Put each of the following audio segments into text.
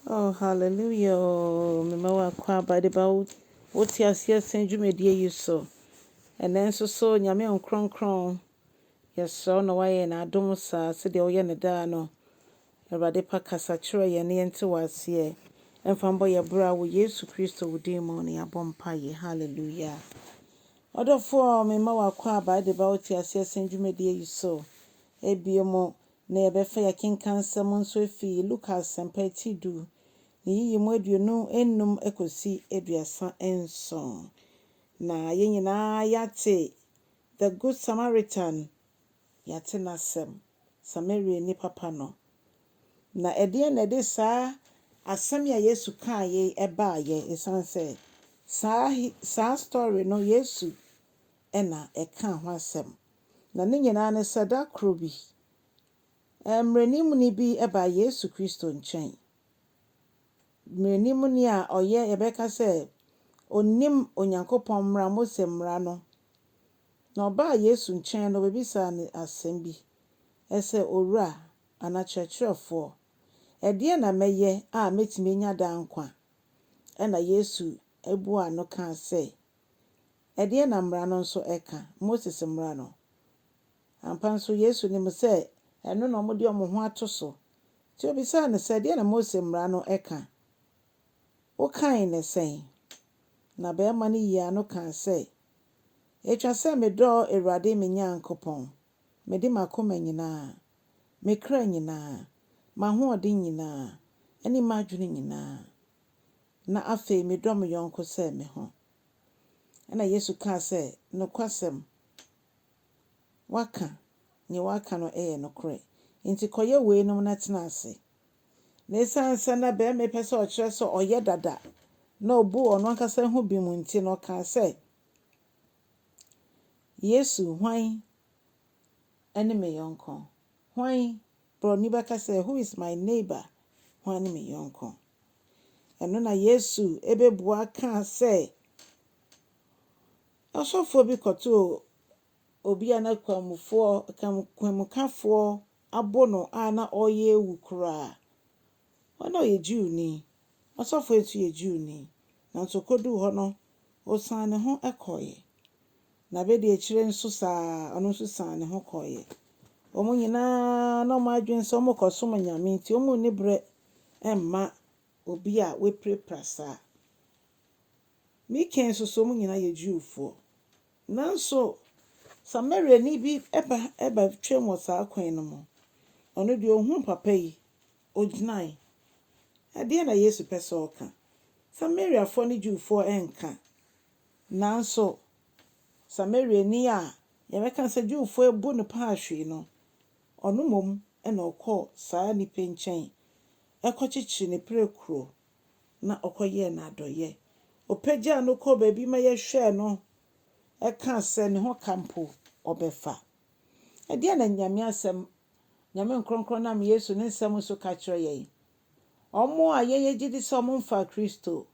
Oh hallelujah oo mema wo akwaaba de ba wo te aseɛ sɛn dwumadie yi so ɛnɛ nso so nyame nkronkron yɛsrɛ wo na woayɛ na adom saa sɛdeɛ woyɛ ne daa no awurade pa kasa kyerɛ yɛn ne yɛnte wo aseɛ ɛmfa mbɔ yɛ bra wɔ yesu kristo wo din mu ne yɛabɔ mpa yɛ hallelujah ɔdɔfoɔ mema wo akwaaba de ba wo te aseɛ sɛn dwumadie yi so ebio mo na yɛbɛfa yɛn akenkansɛm nso afi Luka Asɛmpa ti du, ne yiyi mu aduonu nnum kosi aduasa nson. Na yɛn nyinaa yɛate The Good Samaritan, yɛate n'asɛm, Samariani papa no. Na ɛdeɛn na ɛde saa asɛm yi a Yesu kaa yei baeɛ? Ɛsiane sɛ saa hi saa story no Yesu na ɛkaa ho asɛm, na ne nyinaa ne sɛ da koro bi mmaranimni bi baa Yesu Kristo nkyɛn, mmaranimni a ɔyɛ, yɛbɛka sɛ, ɔnnim Onyankopɔn mmara, Mose mmara no, na ɔbaa Yesu nkyɛn no, ɔbɛbisaa no asɛm bi sɛ, Owura, anaa Kyerɛkyerɛfoɔ, ɛdeɛn na mɛyɛ a mɛtumi anya daa nkwa? Ɛnna Yesu buaa no kaa sɛ. Ɛdeɛn na Mmara no nso ka, Moses Mmara no? Ampa nso, Yesu nim sɛ ɛno na wɔde wɔn ho ato so, nti ɔbisaa no sɛ, Ɛdeɛn na Mose Mmara no ka? Wokan no sɛn? Na barima no yii ano kaa sɛ, Ɛtwa sɛ medɔ Awurade me Nyankopɔn, mede m'akoma nyinaa, me kra nyinaa, m'ahoɔden nyinaa ne m'adwene nyinaa. Na afei medɔ me yɔnko sɛ me ho. Ɛnna Yesu kaa sɛ, Nokwasɛm, woaka, nea woaka no yɛ nokorɛ. Enti kɔyɛ weinom na tena ase. Na ɛsiane sɛ na barima yi pɛ sɛ ɔkyerɛ sɛ ɔyɛ dada na ɔbu ɔno ankasa ho bem nti no, ɔkaa sɛ, Yesu, hwan ne me yɔnko? Hwan Borɔni bɛka sɛ, Who is my neighbor? Hwan ne me yɔnko? Ɛno na Yesu bɛbua kaa sɛ, Ɔsɔfoɔ bi kɔtoo obi a na kwamufoɔ, kwamukafoɔ abo no a na ɔreyɛ awu koraa. Ɔno na ɔyɛ Jewni, ɔsɔfoe nso yɛ Jewni, nanso okoduu hɔ no, ɔsan ne ho kɔeɛ. Na abɛdiakyire nso saa ara, ɔno nso san ne ho kɔeɛ. Wɔn nyina ara na wɔn adwene sɛ wɔrekɔsom anyame nti, wɔnni berɛ mma obi a wapirapira saa. Mikael nso so, wɔn nyina ara yɛ Jewfoɔ. Nanso Samariani bi ba bɛtwee wɔ saa kwan no mu. Ɔno deɛ, ɔhuu papa yi, ɔgyinae. Ɛdeɛn na Yesu pɛ sɛ ɔka? Samariafoɔ ne Jewfoɔ nka. Nanso Samariani a yɛbɛka sɛ Jewfoɔ abu no paa hwee no, ɔno mmom na ɔkɔɔ saa nipa nkyɛn kɔkyekyeree n'apirakuro. na ɔkɔyɛɛ no adɔeɛ. Ɔpagyaa no kɔɔ baabi ma yɛhwɛɛ no kaa sɛ ne ho ka mpo ɔbɛfa. Ɛdeɛn na Nyame asɛm, Nyame nkorɔnkorɔn nam Yesu ne nsɛm so ka kyerɛ yɛn? Wɔn a yɛn yɛgye di sɛ wɔmfaa Kristo,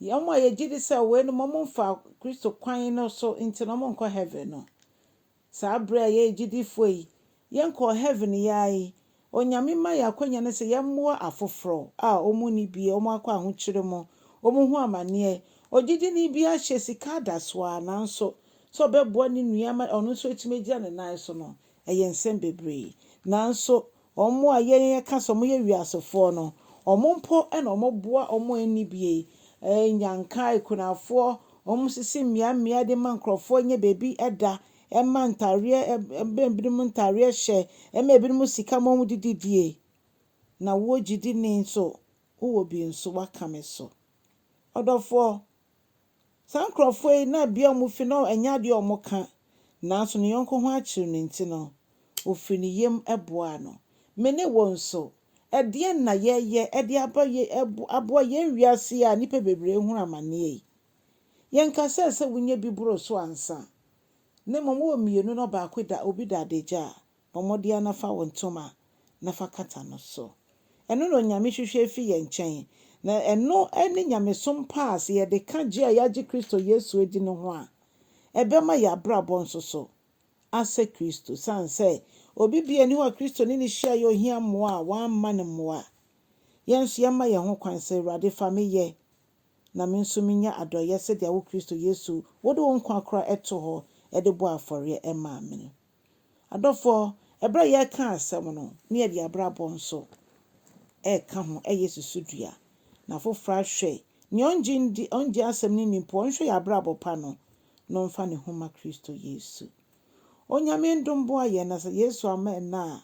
wɔn a yɛgye di sɛ weinom wɔmfaa Kristo kwan no so nti na wɔnkɔ Heaven no, Saa bere a yɛyɛ gyidifo yi, yɛnkɔɔ heaven yi ara yi, Onyame ma yɛn akwanya no sɛ yɛmmoa afoforo a wɔnni bi, wɔakɔ ahokyere mu, wɔrehu amanneɛ. Ogyidini bi ahyɛ sika adasoa, nanso sɛ ɔbɛboa ne nua ma ɔno nso atumi agyina ne nan so no, ɛyɛ nsɛm bebree. Nanso, Wɔn a yɛn yɛka sɛ wɔyɛ wiasefoɔ no, wɔn mpo na wɔboa wɔn a ɛnni bi yi, nnyanka, akunafoɔ, wɔn sisi mmea mmea de ma nkurɔfoɔ nya baabi da, ɛma ntareɛ, ɛma binom ntareɛ hyɛ, ɛma ebinom sika ma wɔde didie. Na woɔ gyidini nso, wowɔ bi nso, woaka me so. Ɔdɔfoɔ, Saa nkurɔfoɔ yi, na bea a wɔfi no, ɛnyɛ adeɛ a wɔka, nanso ne yɔnko ho akyew no nti no, ɔfirii ne yam boaa no. Me ne wo nso, ɛdeɛn na yɛyɛ de aba yɛ ɛbo aboa yɛn wiase yi a nnipa bebree rehunu amaneɛ yi? Yɛnka sɛ, sɛ wonya bi boro so ansa, na mmom wowɔ mmienu na ɔbaako da obi da adagya a, Bɔ mmɔden na fa wo ntoma na fa kata no so. Ɛno na Onyame hwehwɛ fi yɛn nkyɛn, na ɛno ne nyamesom pa a sɛ yɛde ka gye a yɛagye Kristo Yesu adi no ho a, ɛbɛma yɛn abrabɔ nso so asɛ Kristo. Esiane sɛ obi biara nni hɔ a Kristo ne no hyiaeɛ a ɔhia mmoa a wamma no mmoa, yɛn nso yɛmma yɛn ho kwan sɛ, Awurade, fa me yɛ, na me nso menya adɔeɛ sɛdeɛ wo Kristo Yesu wode wo nkwa koraa to hɔ de bɔɔ afɔreɛ maa me no. Adɔfoɔ, ɛberɛ a yɛreka asɛm no, na yɛde abrabɔ nso reka ho, ɛyɛ susudua. Na afoforɔ ahwɛ, nea ɔngye ndi, ɔngye asɛm no nni mpo, ɔnhwɛ yɛn abrabɔ pa no, na ɔmfa ne ho mma Kristo Yesu. Onyame ndom boa yɛn, na sɛ Yesu amma ɛnnɛ a,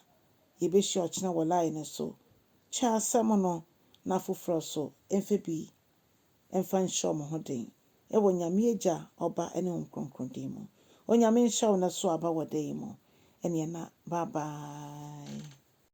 yɛbɛhyia ɔkyena wɔ line no so. Kyɛ asɛm no, na afoforɔ nso mfa bi mfa nhyɛ wɔn ho den wɔ Nyame Agya, Ɔba ne Honhom Kronkron din mu. Onyame nhyɛ wo nɛ so aba wɔ da yi mu. Ɛneɛ na bye bye.